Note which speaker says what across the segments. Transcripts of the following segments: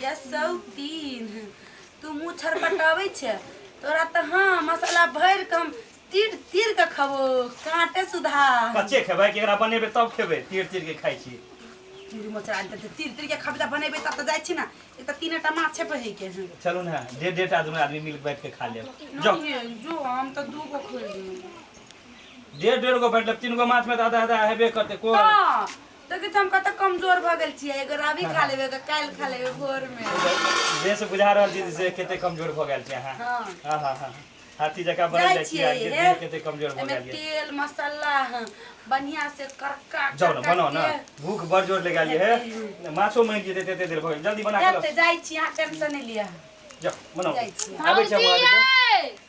Speaker 1: गैसौ तीन तू मुँह छरपटाबै छै तोरा तऽ हँ मसाला भरि कऽ हम तीर तीर कऽ खबो काँटे सुधा कच्चे खेबै कि एकरा
Speaker 2: बनेबै तब खेबै तीर तीर के खाइ छी तीर मचरा
Speaker 1: आनि देतै तीर तीर के खबे तऽ बनेबै तब तऽ जाइ छी ने एक तऽ तीने टा माछ छै पहिके के हँ चलू ने डेढ़ डेढ़
Speaker 2: आदमी आदमी मिल के बैठ के खा लेब जो नहीं है, जो हम तो दू
Speaker 1: गो खोल देंगे
Speaker 2: डेढ़ डेढ़ गो बैठ लेब तीन गो माछ में तो आधा आधा हेबे करते को हाँ देखै
Speaker 1: छी हम कतऽ कमजोर भऽ गेल छियै एगो रवि खा लेबै एगो काल्हि खा लेबै भोर मे जे से बुझा
Speaker 2: रहल छी से कते कमजोर भऽ गेल छी अहाँ हँ हाँ हाँ हाँ हाथी जकाँ बनल जाइ जाइ छी छियै अहाँ के हे। देह कते कमजोर भऽ एहिमे गेल यऽ तेल मसाला
Speaker 1: हँ, बढ़िया से करका जाओ ना करका बनाओ ना के
Speaker 2: भूख बड़ जोर लगा लिए है माछो मांगि लिए देते देर भऽ गेल जल्दी बना के देख लाओ तऽ जाइ छी अहाँ टेंशन
Speaker 1: नहि लिअ जाओ
Speaker 2: बनाओ जाइ छी। आबै छी हम अहाँ के। भौजी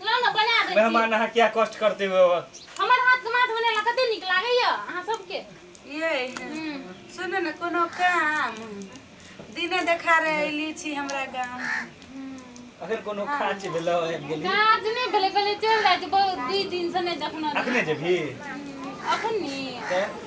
Speaker 2: ना ना
Speaker 3: बना दै छी मेहमान अहाँ क्या कष्ट
Speaker 2: करते हो हमर हाथ से माछ
Speaker 3: बनेला कते नीक लागैय अहाँ सबके ये
Speaker 1: सुन न कोनो काम दिने देखा रहे अइली छी हमरा गाँव अगर
Speaker 2: कोनो खाँच भेलो आबि गेली काज नहि भेलै पहिले
Speaker 3: चलि जाइ छी बहुत दुई दिनसँ नहि देखने रही अखने जेबी
Speaker 2: अखन नी तऽ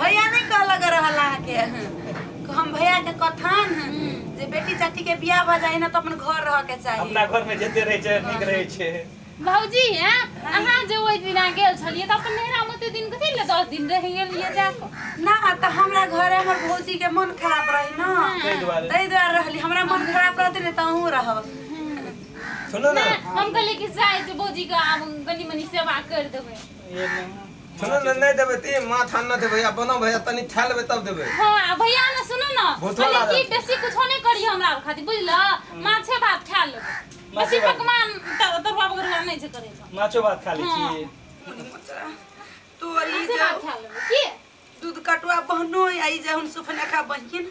Speaker 1: भैया नहीं कहलक रहल अहाँ के हम भैया के कथन जे बेटी चाटी के बियाह भ जाए ना तो अपन घर रह के चाहिए अपना घर में जते रहे छे
Speaker 2: नीक रहे छे भौजी हैं
Speaker 3: अहाँ जे ओहि दिन आ गेल छलियै तऽ अपन नैहरा में ओते दिन कथी ले दस दिन रहि गेलियै जा कऽ? ना तो हमरा
Speaker 1: घरे हमर भौजी के मन खराब रही ना ताहि दुआरे ताहि दुआरे रहली हमरा मन खराब रहते ने तऽ अहूँ रहब
Speaker 4: सुनो ना हम कहलियै कि जाय
Speaker 3: जे भौजी के आब कनी मनी सेवा कर देबै ये ना सुनो
Speaker 4: ना नहीं देबे ती माथ हाथ ना देबे या बनो भैया तनी खा लेबे तब देबे हाँ आ भैया ना सुनो
Speaker 3: ना बहुत भले वाला की रहता। बेसी कुछ नहीं करियो हमरा आर खातिर बुझल माछे भात खा लो बेसी माछे भात। पकवान त- तरुआ बगरुआ नहीं छै करे छो माछो भात खा
Speaker 2: लै हाँ।
Speaker 1: छी तोरी माछे जे भात खा
Speaker 3: लो की दूध कटुआ
Speaker 1: बहनो आई जे हम सुफने खा बहिन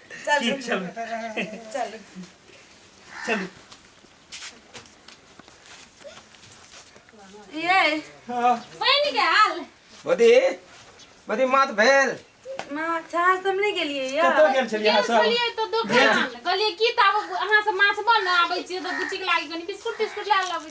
Speaker 2: चलू चलू चलू
Speaker 1: चलू ये बहन
Speaker 2: के हाल
Speaker 3: बदी
Speaker 4: बदी मात भेल माँ अच्छा
Speaker 1: आज तुम नहीं गेलिए या कतौ गेल छलियै अहाँ सब गेलियै
Speaker 2: तो दोकान
Speaker 3: कहलियै की तऽ आब अहाँ सब माछ बन आबै छियै तऽ बुचिक लागि कनि बिस्कुट तिस्कुट लए लबै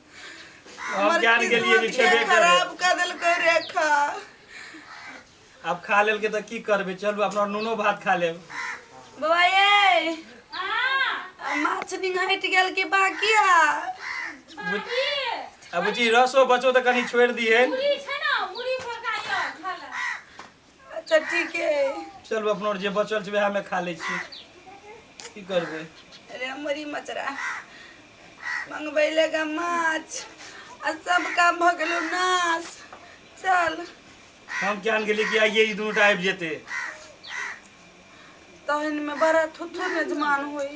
Speaker 2: हम हमर जान गेलियै जे किस्मत छेबे के करे। खराब कर देलकै
Speaker 1: रेखा
Speaker 2: आब खा लेल के तऽ की करबै चलू अपना नूनो भात खा लेब बाबा ये
Speaker 3: आ माछ निघाटि
Speaker 1: गेल कि बाकी आ
Speaker 2: आ बुची रसो बचो तऽ कनि छोड़ि दिहे
Speaker 3: अच्छा
Speaker 1: ठीक है चल अपना और जे
Speaker 2: बचल छै वएह में खा ले छी की करबे अरे हमरी
Speaker 1: मचरा मंगबै लेगा माछ आ सब काम भ गेलो नाश चल हम
Speaker 2: जान गेली कि आइए ई दुनू टा आबि जेते
Speaker 1: तहन में बड़ा थुथु नजमान होई